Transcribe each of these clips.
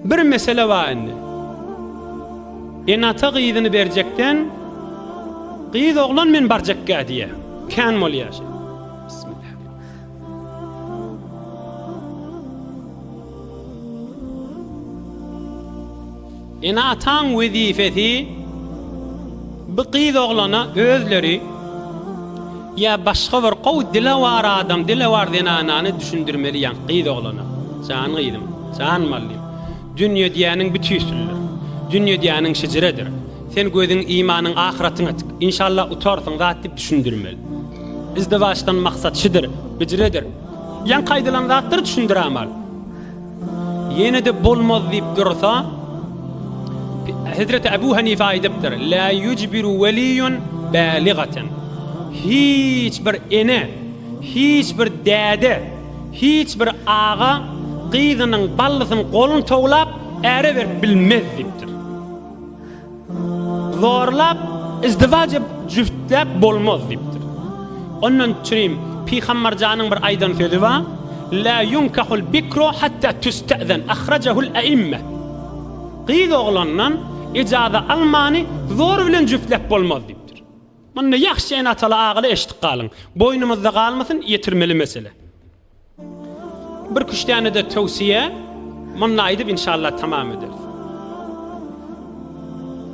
Bir mesele bar indi. Enata gyzyny berjekden gyz oglan men barjakka diýe. Kän bolýar. Bismillah. Ene-ataň wezipesi bu gyz oglana özleri ýa başga bir gowy dilewar adam, dilewar zenanany düşündirmeli ýaňky gyz oglana. Jan gyzym, jan mallym, dünýe diýýäniň bu tüýsülidir. Dünýe diýýäniň şejiredir. Sen gözüň, imanyň ahyratyňa tik. Inşallah utarsyň zat diýip düşündirmeli. Izdiwaçdan maksat şudur, hijredir. Ýaňky aýdylan zatlary düşündirämal. Ýene-de bolmaz diýip dursa, Hezreti Abu Hanife aýdypdyr, La yujbiru waliyun baligatan. Hiç bir ene, hiç bir däde, hiç bir aga gyzynyň ballysyny golun towlap äre berip bilmez diýipdir. Zorlap, izdiwaç edip, jüftläp bolmaz diýipdir. Ondan çürim Pygamberjanyň bir aýdan sözi bar, La yunkahul bikru hatta tüste'zen, ahrajahul e'imme. Gyz oglandan ijaza almany zor bilen jüftläp bolmaz diýipdir. Munda ýahşy ene-ataly agaly eşitip galyň. Boýnumyzda galmasyn, ýetirmeli mesele. Bir küştänede towsiýe munda aýdyp inşallah tamam ederis.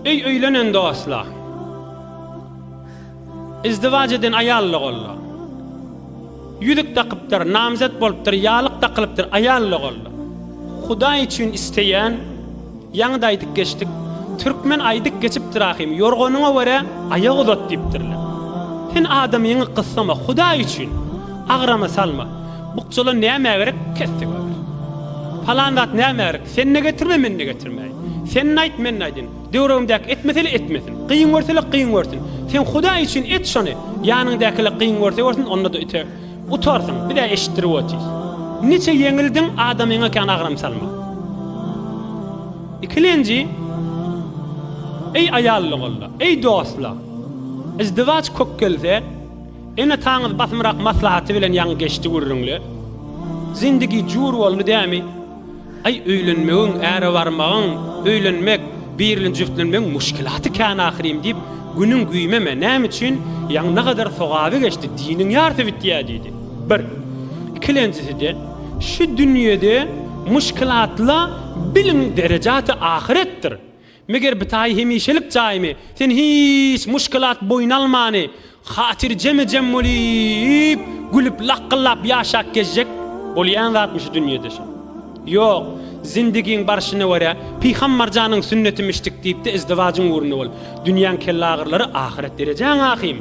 Öý öýlenen dostlar. Izdiwac eden aýal ogullar. Ýüzük dakypdyr, namzet bolupdyr, ýalyk dakylypdyr aýal ogullar. Hudaý üçin isteýän Ýaňy-da aýdyp geçdik. Türkmen aýdyp geçipdir ahym, Ýorganyňa görä, aýak uzat diýipdirler. Sen adamyňy gyssama, Hudaý üçin, agrama salma. Bukjalar nämä gerek, kesdi göwher. Palan zat nämä gerek, sen-de getirme, men-de getirmäýin. Sen-de aýt, men-de aýdyn. Döwrebimdäki etmese-le etmesin. Kyn görse-le kyn görsün. Sen Hudaý üçin et şony, ýanyňdaky-le kyn görse görsün, onda-da ite. Utarsyň, biz-ä eşitdirip otyrys. Niçe ýeňildiň, adamyňa kän agram salma. Ikilenji, Eý aýallygolla, eý dostlar! Yzdywaç kök gelse, ene-ataňyz basymrak maslahaty bilen ýaňy geçdi gürrüňle. Zindigi jur boldy dämi? Aý öýlenmegiň, äre barmagyň, öýlenmek, birli jüftlenmegiň muşkilaty kän ahyrym diýip, günüň güýmeme, näme üçin, ýaňy ne gadar sogaby geçdi, diniň ýarsy bitýä diýdi. Bir. Ikilenjisi-de, şu dünýede muşkilatla biliň derejaty ahyretdir. Meger bitaýy hemişelik jaýmy? Sen hiç muşkilat boýun almany, hatyrjeme-jem bolýp, gülüp, lakgyllap ýaşap gezjek bolýan zatmy şu dünýede şo? Ýok, zindigiň barşyna görä, Pyhammarjanyň sünnetimi içdik diýip-de izdiwajyň ugrunda bol. Dünýäň kellaagyrylary ahyret derejäň ahym.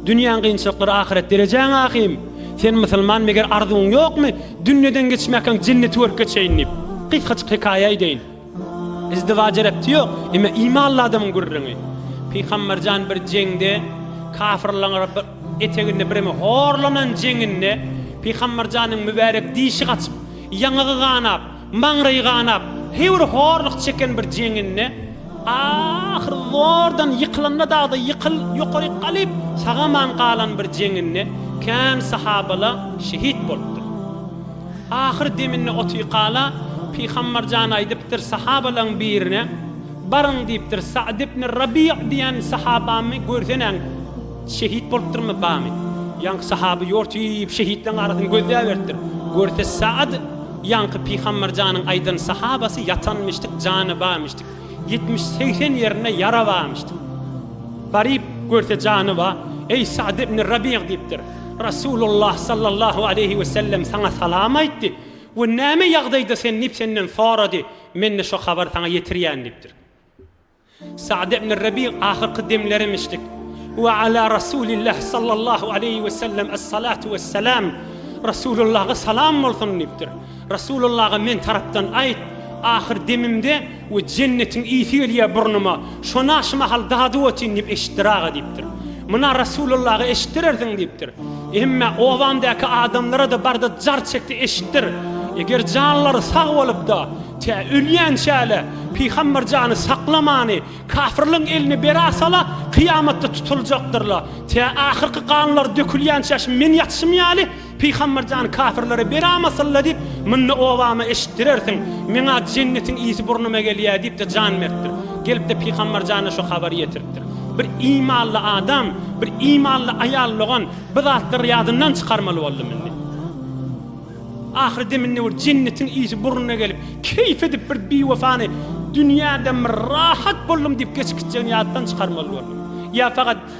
Dünýäň kynçylyklary ahyret derejäň ahym. Sen musulman meger arzuwyň ýokmy, dünýeden geçmäkäň jenneti görüp geçeýin diýip. Gysgajyk hekaýa eýdeýin. Izdiwaja repti ýok. Emma imanly adamyň gürrüňi. Pygamberjan bir jeňde kafyrlaň eteginde bireme horlanan jeňinde Pygamberjanyň mübärek dişi gaçyp, ýaňagy ganap, maňraýy ganap, heýwir horluk çeken bir jeňinde ahyr zordan ýykylanda dagda ýykyl ýokaryk galyp sagaman galan bir jeňinde kän sahabala şehit bolupdyr. Ahyr deminde Otyykala Pygambar jan aýdypdyr sahabalaň birine, Baryň diýipdir, Sa'd ibn Rabi'a diýen sahabamy görseneň, şehit bolupdyrmy, bamy? Ýaňky sahaby ýortyp şehitleň arasyny gözläberipdir. Görse Sa'd ýaňky Pygambar janyň aýdan sahabasy ýatanmyşdyk, jany barmyşdyk. Ýetmiş, segsen ýerinde ýara barmyşdyk. Baryp görse jany bar. Eý Sa'd ibn Rabi'a diýipdir. Resulullah sallallahu aleýhi we sellem saňa salam aýtdy we näme ýagdaýda sen diýip senden sorady, men-de şo habary saňa ýetirýän diýipdir. Sa'd ibn Rabi ahyrky demlerimişdik. We ala Resulillah sallallahu aleýhi we sellem es-salatu wes-salam Resulullaha salam bolsun diýipdir. Rasulullaga men tarapdan aýt, ahyr demimde we jennetiň ysy gelýär burnuma, şona şu mahal dady otyn diýip eşitdir aga diýipdir. Muna Rasulullaga eşitdirersiň diýipdir. Hemme obamdaky adamlara-da barda jar çekdi eşitdir. Eger janlary sag bolup-da, tä ölýänçäle Pygamber jany saklamany kafirligiň eline bera sala, kyýamatda tutuljakdyrla, tä ahyrky ganlary dökülýänçäşim men ýatyşym ýaly, Pygamber jan kafirlere beram asylla diýip mynda obama eşitdirersiň meňa jennetiň ysy burnuma gelýä diýipde jan beripdir gelipde pygamber jana şu habary ýetiripdir bir imanly adam bir imanly aýal dogan bu zatlary ýadyndan çykarmaly boldy mindi ahyr deminde bir jennetiň ysy burnuna gelip keýf edip bir biwefany dünýäden bir rahat boldum diýip geçip gitjegini ýatdan çykarmaly boldy ýa fakat